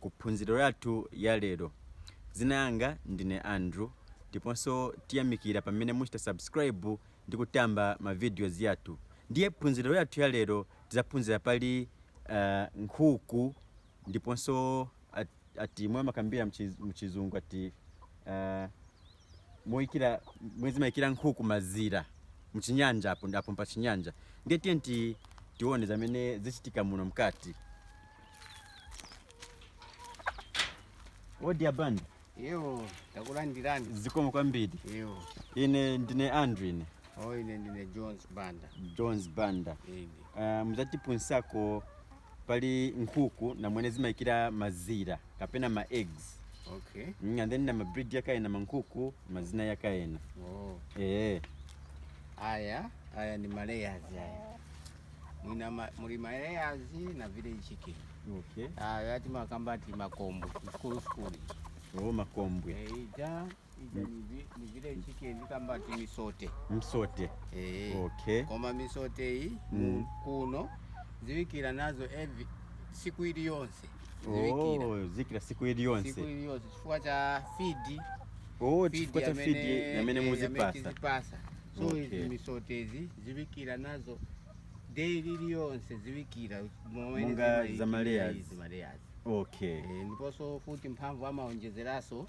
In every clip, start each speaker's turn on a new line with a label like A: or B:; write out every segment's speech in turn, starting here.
A: ku phunziro yathu ya lero. Zina yanga ndine Andrew ndiponso tiyamikira pamene muchita subscribe ndi kutamba ma videos yathu. Ndiye phunziro yathu ya lero tizaphunzira pali ah, nkhuku ndiponso at- ati mwe amakambira mchi- mchizungu ati ah, moyikira mwe zimayikira nkhuku mazira mchinyanja apo ndi- apo pa chinyanja ndiye tiye ti tione zamene zichitika muno mkati odi a Banda
B: Yo, takulandirani. zikomo
A: kwambiri Yo,
B: ine
A: ndine Andrew ine oh ine ndine
B: Jones Banda. jones banda Ine. uh, muzatipunsako
A: pali nkhuku na mwene zimayikira mazira kapena ma eggs okay mm,
B: and then na ma breed
A: yakayena mankhuku mazina yakayena oh
B: eh aya aya ni ma layers aya nina ma, muli ma layers na village chicken okay
A: aya timakamba
B: ati makombwe sukulu sukulu oh
A: makombwe eija
B: ija ni vi- ni village chicken kamba ti misote
A: msote eh okay koma
B: misote iyi Mm. mu- kuno ziwikira nazo every siku ili yonse ziwikira oh
A: ziikira siku ili siku yonse ili yonse chifukwa cha
B: feed oh
A: chifukwa cha feed yamene muzipasa tizipasa so Okay.
B: izi misotezi ziwikira nazo daily ili yonse ziwikira momwe Monga zimaikira
A: za ma layers. izi ma layers okay Eh, ndiponso
B: futi mphamvu amaonjezeraso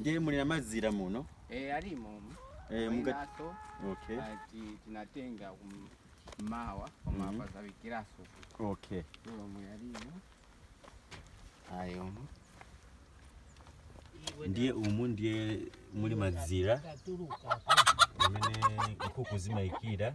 A: ndiye muli na mazira muno Eh, alimo
B: umu. Eh, muka-
A: Mwinaso, okay ah, ti- tinatenga
B: kum'mawa koma Mhm. apa zawikiraso okay
A: omwe alimo
B: ayo
A: umu. ndiye umu ndiye muli mazira amene nkhuku zimayikira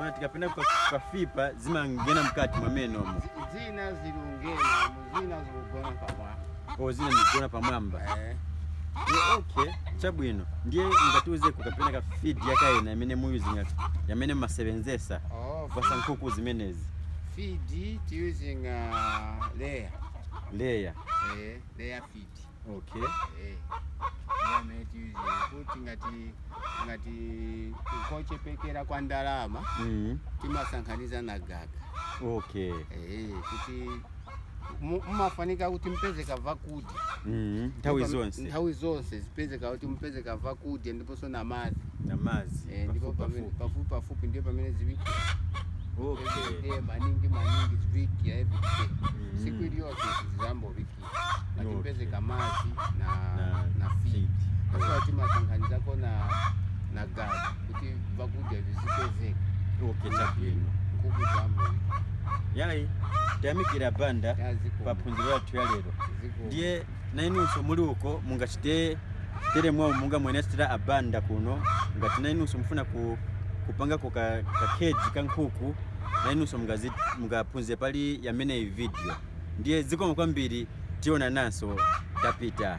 A: Ona tikapenda kwafipa zimangena mkati mwamene umo. Zina
B: zilungena, zina zilugona pamwamba. Kwa zina zilugona
A: pamwamba. Eh. Yeah, okay. Chabwino. Ndiye ngatiuzeko kapena ka feed yakaena imene muyuzinga ati yamene masebenzesa. Oh. Kupasa nkuku zimenezi. Feed
B: using uh, layer.
A: Layer. Eh, layer
B: feed.
A: act okay Eh, iye
B: amati iye kuti ngati ngati kochepekera kwa ndalama mm. timasankhaniza na gaga okay
A: Eh, kuti
B: mu- mumafunika kuti mpezeka vakudya mm. nthawi Ndipo
A: zonse nthawi zonse zipezeka kuti
B: mpezeka vakudya ndiponso na madzi na madzi Eh,
A: ndipo pamene- pafupi pafupi
B: ndiye pamene ziwikira okay
A: everyday maningi
B: maningi ziwikira everyday Mm. siku iliyonse zizambowiki ngati wiki. mpezeka madzi na, Na na feed feed. asowa timasanganizako na na gaga kuti vakudya vizipezeka okay
A: chabwino nkhuku zambo yayi tayamikira abanda pa phunziro yathu ya lero ndiye nainunso muli uko mungachite tere mwamene aonetsera abanda kuno ngati nainunso mufuna ku kupangako ka, ka keji ka nkhuku na inunso mungazit- mungaphunzire pali imeneyi video ndiye zikomo kwambiri tionananso tapita